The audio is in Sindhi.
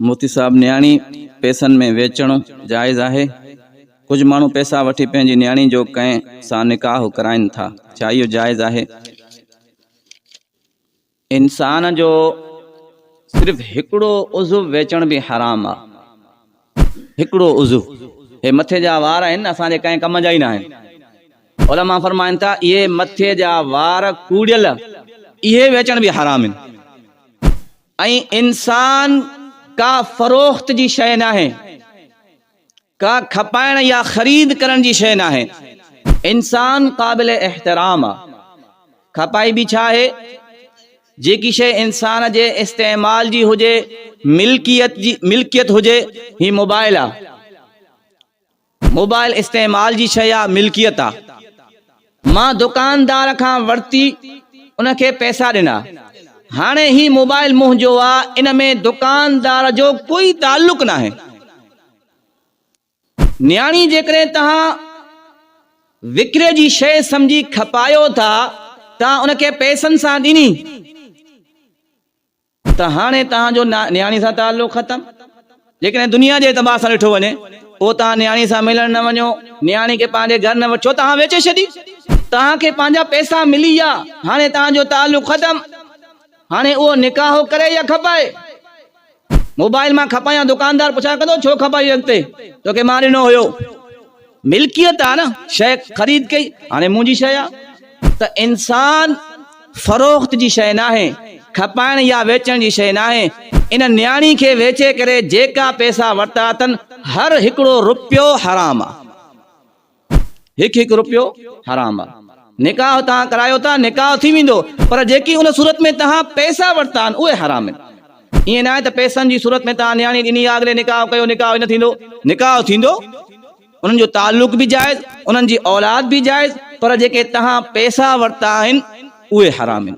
موتي صاحب نياڻي پيسن ۾ ويچڻ جائز آهي؟ ڪجهه ماڻهو پيسا وٺي پنهنجي نياڻي جو ڪنهن سان نڪاح ڪرائين ٿا ڇا اهو جائز آهي؟ انسان جو صرف هڪڙو عضو ويچڻ به حرام آ هڪڙو عضو هي مٿي جا وار آهن نه اسان جي ڪنهن ڪم جا ئي نه آهن علماء فرمائن ٿا اهي مٿي جا وار ڪوڙيل اهي ويچڻ به حرام آهن ۽ انسان ڪا فروخت جي شيء ناهي، ڪا کپائڻ يا خريد ڪرڻ جي شيء ناهي. انسان قابل احترام آ. کپائبي ڇا آهي؟ جيڪي شيء انسان جي استعمال جي هجي، ملڪيت هجي، هي موبائل آ. موبائل استعمال جي شيء آ ملڪيت آ مان دڪاندار کان ورتي ان کي پئسا ڏنا هاڻي هي موبائل منهنجو آ ان ۾ دڪاندار جو ڪوئي تعلق ناهي نياڻي جيڪڏهن توهان وڪري جي شيء سمجهي کپايو ٿا توهان ان کي پئسن سان ڏني ته هاڻي توهان جو نياڻي سان تعلق ختم. جيڪڏهن دنيا جي اعتبار سان ڏٺو وڃي، پوء توهان نياڻي سان ملڻ نه وڃو، نياڻي کي پنهنجي گهر نه وٺيو، توهان ويچي ڇڏي. توهان کي پنهنجا پئسا ملي ويا، هاڻي توهان جو تعلق ختم. هاڻي اهو نڪاح هو ڪري يا کپائي. موبائيل مان کپايان دڪاندار پڇا ڪندو ڇو کپايوئي اڳتي توکي مان ڏنو هيو. ملڪيت آ نه شئي خريد ڪئي هاڻي منهنجي شئي آ ته انسان فروخت جي شئي ناهي کپائڻ يا ويچڻ جي شئي ناهي ان نياڻي کي ويچي ڪري جيڪا پئسا ورتا اٿن هر هڪڙو رپيو حرام آ هڪ هڪ رپيو حرام آ نڪاح توهان ڪرايو ٿا نڪاح ٿي ويندو پر جيڪي ان صورت ۾ توهان پئسا ورتا آهن اهي حرام آهن ائين ناهي ته پئسن جي صورت ۾ توهان نياڻي ڏني يا اڳلي نڪاح ڪيو نڪاح نه ٿيندو، نڪاح ٿيندو، انهن جو تعلق به جائز، انهن جي اولاد به جائز، پر جيڪي توهان پئسا ورتا آهن اهي حرام آهن.